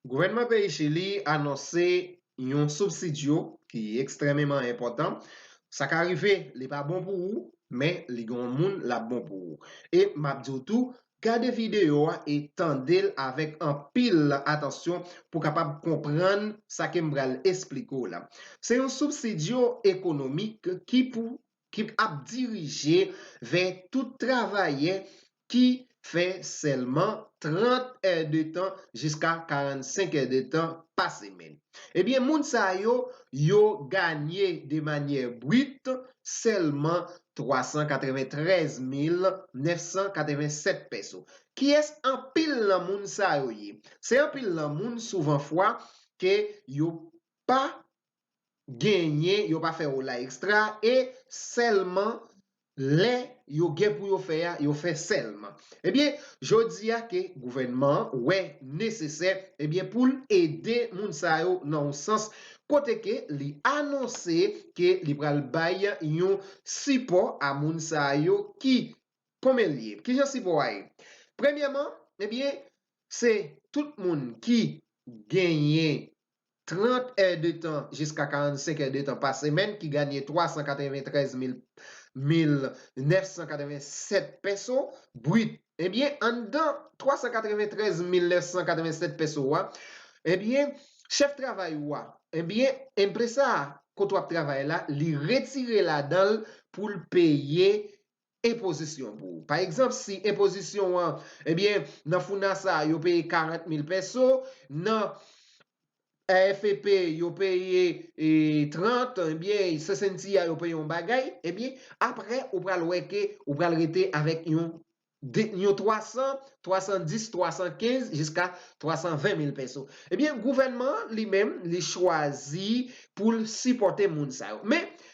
Gouvènman peyi Chili anonse yon subsidio ki ekstrememan enpòtan. Sa ka rive li pa bon pou ou, men li gen yon moun l ap bon pou ou. E m ap di w tou, gade videyo a e tande l avèk anpil atansyon pou w kapab konprann sa ke m pral esplike w la. Se yon subsidio ekonomik ki pou ki ap dirije vè tout travayè ki fè sèlman 30 è de tan jiska 45 è de tan pa semèn. Ebyen moun sa yo, yo ganye de manyè brit sèlman 393 mil 987 pèso. Kiyès anpil nan moun sa yo ye? Se anpil nan moun souvan fwa ke yo pa genyen yo pa fè ola extra e sèlman lè yo gen pou yo fè a yo fè sèlman ebyen jodi a ke gouvènman an wè nesesè ebyen pou l ede moun sa yo nan yon sans kote ke li anonse ke li pral bay yon sipò a moun sa yo ki konbyen l ye kijan sipò a ye premyèman ebyen se tout moun ki genyen 30 è de tan jiska 45 è de tan pa semèn ki ganye 393 mil 987 pèso brit. Ebyen anndan 393 mil 987 pèso a ebyen chèf travay ou a ebyen enpresa kote w ap travay la li retire ladan l pou l peye enpozisyon pou ou. Pa egzanp, si enpozisyon an, ebyen, nan FUNASA yo peye 40 mil pèso, nan AFP yo peye 30, ebyen, se Cynthia yo peye yon bagay, ebyen, apre ou pral wè ke ou pral rete avèk yon 300, 310, 315, jiska 320 mil pèso. Ebyen, gouvènman an, li menm, li chwazi pou l sipòte moun sa yo. Men,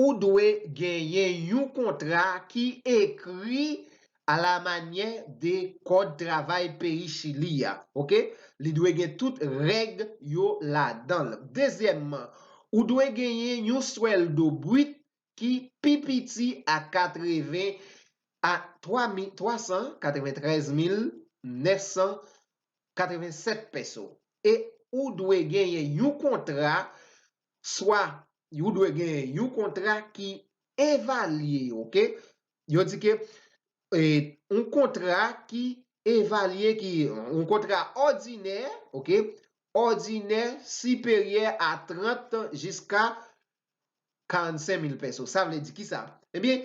ou dwe genyen yon kontra ki ekri a la manyè de kòd travay peyi Chili a, ok. Li dwe gen tout règ yo ladan l. Dezyèmman, ou dwe genyen yon swèldo bwit ki pi piti a 80 a 393,987 peso e ou dwe genyen yon kontra swa Ou dwe genyen yon kontra ki evalye, ok? Yo di ke yon kontra ki evalye ki yon kontra òdinè, ok, òdinè siperyè a 30 jiska 45 mil pèso. Sa vle di ki sa? Ebyen,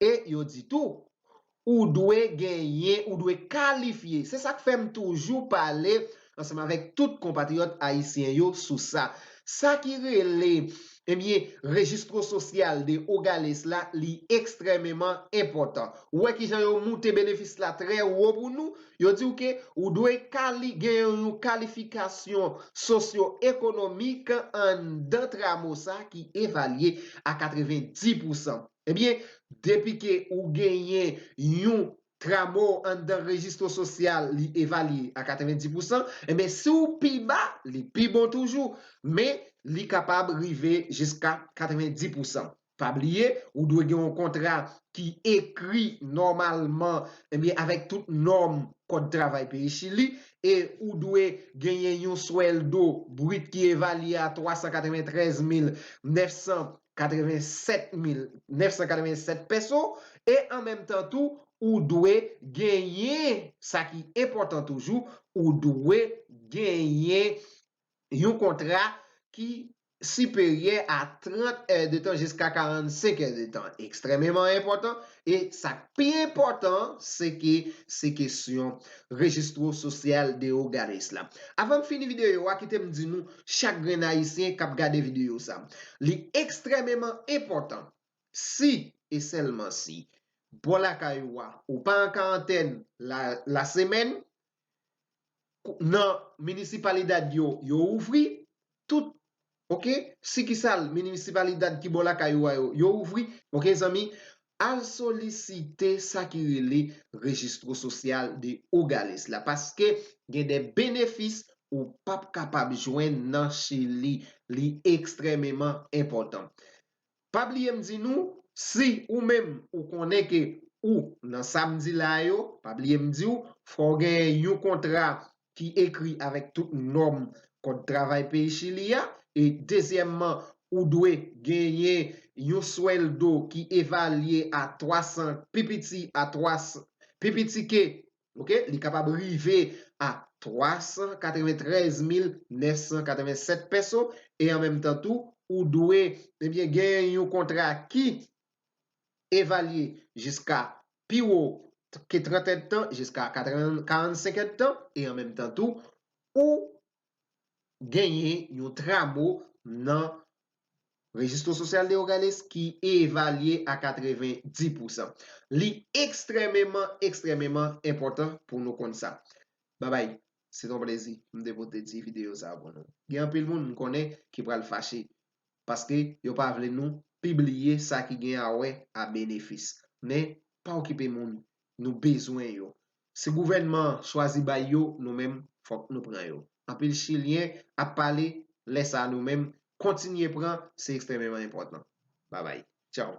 E yo di tou, ou dwe genyen, ou dwe kalifye. Se sa k fè m toujou pale ansanm avèk tout konpatriyòt ayisyen yo sou sa. Sa ki rele, ebyen, Registro Social de Hogales la, li ekstrèmeman enpòtan. Ou wè ki jan yo moute benefis la trè wo pou nou? Yo di w ke ou dwe kali, gen yon kalifikasyon sosyo-ekonomik anndan tramo sa ki evalye a 90 pousan. Ebyen depi ke ou genyen yon Tramo anndan rejistro sosyal li evalye a 90 pou san, ebyen si w pi ba li pi bon toujou men li kapab rive jiska 90 pou san. Pa bliye ou dwe gen yon kontra ki ekri nòmalman ebyen avèk tout nòm kòd travay peyi Chili e ou dwe genyen yon swèldo brit ki evalye a 393 mil 900 87 mil 987 pèso e an menm tan tou ou dwe genyen sa ki enpòtan toujou ou dwe genyen yon kontra ki siperyè a 30 è de tan jiska 45 è de tan ekstrèmeman enpòtan e sa k pi enpòtan se ke se kesyon rejistro sosyal de oganis la avan m fini videyo a kite m di nou chak grenn ayisyen kap gade videyo sa. Li ekstrèmeman enpòtan si e sèlman si bò lakay ou a ou pa an karantèn la semèn nan minisipalidad yo yo ouvri tout ok sikisal minisipalidad ki bò lakay ou a yo yo ouvri ok zanmi Al solisite sa ki rele Registro Social de Hogares la paske gen de benefis ou p ap kapab jwenn nan Chili. Li ekstrèmeman enpòtan. Pa bliye m di nou, si ou menm ou konnen ke ou nan sa m di la yo, pa bliye m di w, fò w gen yon kontra ki ekri avèk tout nòm kòd travay peyi Chili a, e dezyèmman ou dwe genyen yon swèldo ki evalye a 300, pi piti a 300, pi piti ke, ok, li kapab rive a 393.987 peso, e an menm tan tou, ou dwe, ebyen, genyen yon kontra ki evalye jiska pi wo ke 30 èdtan jiska 45 èdtan e an menm tan tou ou genyen yon tramo nan Registro Social de Hogares ki evalye a 90 pousan. Li ekstrèmeman, ekstrèmeman enpòtan pou nou konn sa. Babay, se ton plezi pou m te pote ti videyo sa pou nou. Gen anpil moun m konnen ki pral fache paske yo pa vle nou pibliye sa ki gen a wè a benefis men pa okipe moun nou bezwen yo si gouvènman an chwazi bay yo nou menm fòk nou pran yo anpil chilyen ap pale lè sa nou menm kontinye pran se ekstrememan enpòtan babay tchaww.